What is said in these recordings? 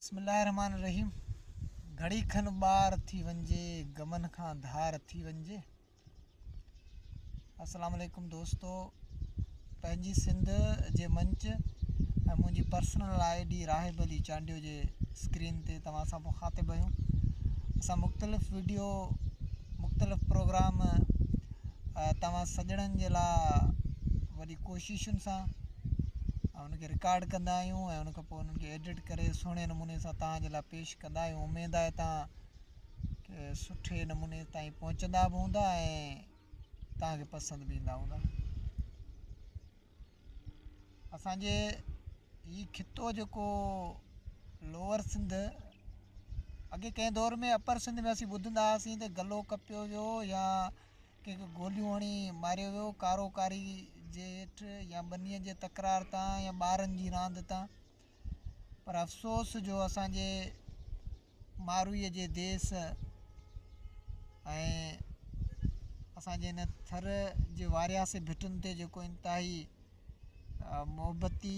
بسم الله الرحمٰن الرحيم گهڙي کن ٻار ٿي وڃجي غمن کان ڌار ٿي وڃجي السلام عليڪم دوستو پنهنجي سنڌ جي منچ ۽ منهنجي personal I D Rahib Ali Chandio جي اسڪرين تي توهان سان مخاطب آهيون اسان مختلف ويڊيو مختلف پروگرام توهان سڄڻن جي لاء وڏي ڪوششن سان ان کي رڪارڊ ڪندا آهيون ۽ ان کان پوء انهن کي ايڊٽ ڪري سهڻي نموني سان توهان جي لاء پيش ڪندا آهيون اميد آهي توهان کي سٺي نموني تائين پهچندا به هوندا ۽ توهان کي پسند به ايندا هوندا اسانجي هي خطو جيڪو لوور سنڌ اڳي ڪنهن دور ۾ اپر سنڌ ۾ اسين ٻڌندا هئاسين ته گلو ڪپيو ويو يا ڪنهن کي گوليون هڻي ماريو ويو ڪارو ڪاري جي هيٺ يا ٻنيء جي تڪرار تان يا ٻارن جي راند تان پر افسوس جو اسانجي ماروئي جي ديس ۽ اسانجي هن ٿر جي وارياسي ڀٽن تي جيڪو انتهائي محبتي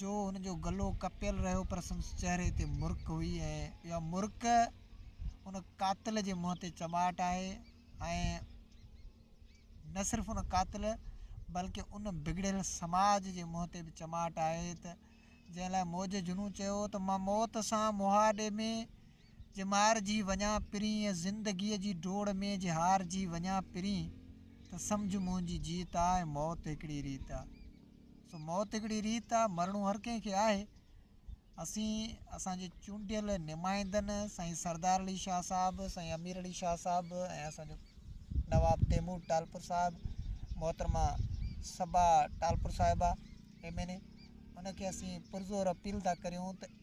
جو هن جو گلو ڪپيل رهيو پر سندس چهري تي مرڪ هئي ۽ اها مرڪ ان قاتل جي منهن تي چٻاٽ آهي ۽ نه صرف ان قاتل بلڪه ان بگڙيل سماج جي منهن تي به چٻاٽ آهي ته جنهن لاء موج جنون چيو هو ته مان موت سان مهاڏي ۾ جي مارجي وڃان پرين ۽ زندگيء جي ڊوڙ ۾ جي هارجي وڃان پرين ته سمجهه منهنجي جيت آ ۽ موت هڪڙي ريت آ. سو موت هڪڙي ريت آ مرڻو هر ڪنهن کي آهي اسين اسان جي چونڊيل نمائندن سائين سردار علي شاهه صاحب سائين امير علي شاهه صاحب ۽ اسان جو نواب تيمور ٽالپر صاحب محترمه صبا ٽالپر صاحبه ايم اين اي ان کي اسين پرزور اپيل ٿا ڪريون ته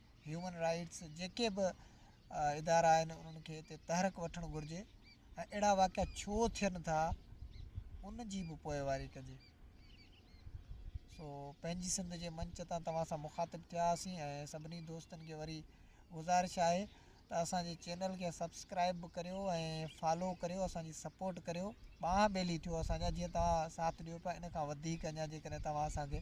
هيومن رائيٽس جيڪي به ادارا آهن انهن کي هتي تحرڪ وٺڻ گهرجي ۽ اهڙا واقعا ڇو ٿين ٿا ان جي به پوئواري ڪجي سو پنهنجي سنڌ جي منچ تان توهان سان مخاطب ٿيا هئاسين ۽ سڀني دوستن کي وري گذارش آهي ته اسانجي چينل کي سبسڪرائب به ڪريو ۽ فالو ڪريو اسانجي سپورٽ ڪريو ٻانهن ٻيلي ٿيو اسانجا جيئن توهان ساٿ ڏيو پيا ان کان وڌيڪ اڃا جيڪڏهن توهان اسانکي